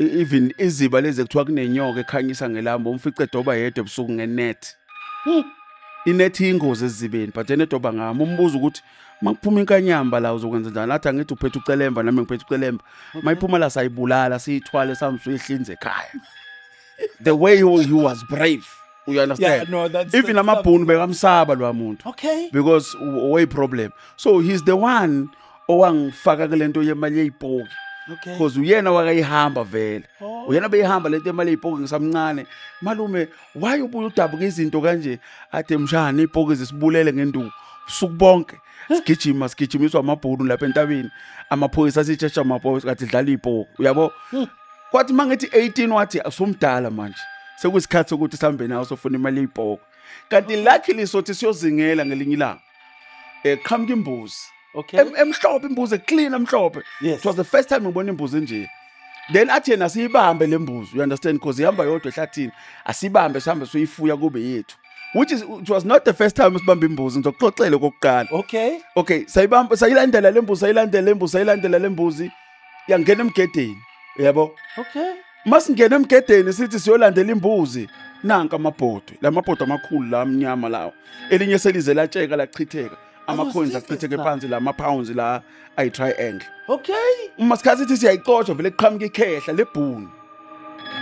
E- even iziba lezi ekuthiwa kunenyoka ekhanyisa ngelamba umfice edoba yedwa ebusuku ngenet inet iyingozi ezizibeni but yena edoba ngami umbuza ukuthi uma kuphuma inkanyamba la uzokwenza njani athi angithi uphethe ucelemba nami ngiphethe ucelemba uma iphuma la sayibulala siyithwale sambe suyihlinze ekhaya the way he he was brave you Yeah, understand no, that's- even that's- amabhunu bekamsaba lwa muntu Okay. because way problem so he's the one owangifaka kule nto yemali yey'poki okay cause uyena wakayihamba vele oh. uyena beyihamba lento emali ipoke ngisamncane malume why ubuye udabuka izinto kanje athe mshana ipoke zisibulele ngenduku usuku bonke sigijima sigijimiswa amabhunu lapha entabeni amaphoyisa sitshesha amaphoyisa kathi dlala ipoke uyabo hmm. kwathi mangithi 18 wathi asomdala manje sekuyisikhathi sokuthi sihambe nawo sofuna imali ipoke kanti luckily sothi siyozingela ngelinye ilanga eh qhamuka imbuzi okay Em- emhlophe imbuzi clean emhlophe yes it was the first time ngibona imbuzi enje then athi yena siyibambe le mbuzi you understand because ihamba yodwa ehlathini asibambe sihambe siyifuya kube yethu which is it was not the first time sibamba imbuzi ngizokuxoxela okokuqala okay okay sayibamba sayilandela le mbuzi sayilandela le mbuzi sayilandela le mbuzi yangena emgedeni yabo okay masingena emgedeni sithi siyolandela imbuzi nanka amabhodwe lamabhodwe amakhulu la amnyama lawo elinye selize latsheka lachitheka amacoins achitheke phansi la ama-pounds la ayi-triangle okay uma sikhathi sithi siyayicotshwa vele kuqhamuka ikhehla lebhuni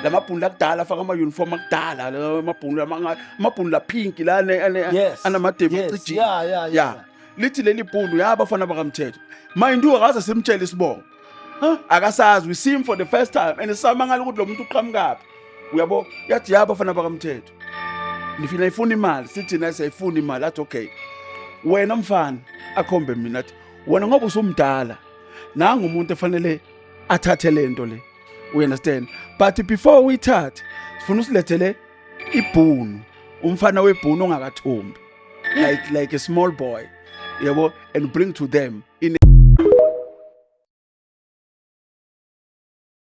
la mabhunu lakudala afaka ama-uniform akudala amabhunu amabhunu laphinki la anamadevu ecijini ya lithi leli bhulu yabafana bakamthetho mind you akaze simtshele isibongo akasazi we see him for the first time and samangala ukuthi lo muntu uqhamukaphi uyabo yathi yabafana bakamthetho nifina ifuna imali sithi naye siyayifuna imali athi okay wena mfana akhombe mina athi wena ngoba usumdala nangu umuntu efanele athathe lento le we understand but before uyithathe sifuna usilethele ibhunu umfana webhunu ongakathombi like like a small boy yabo and bring to them in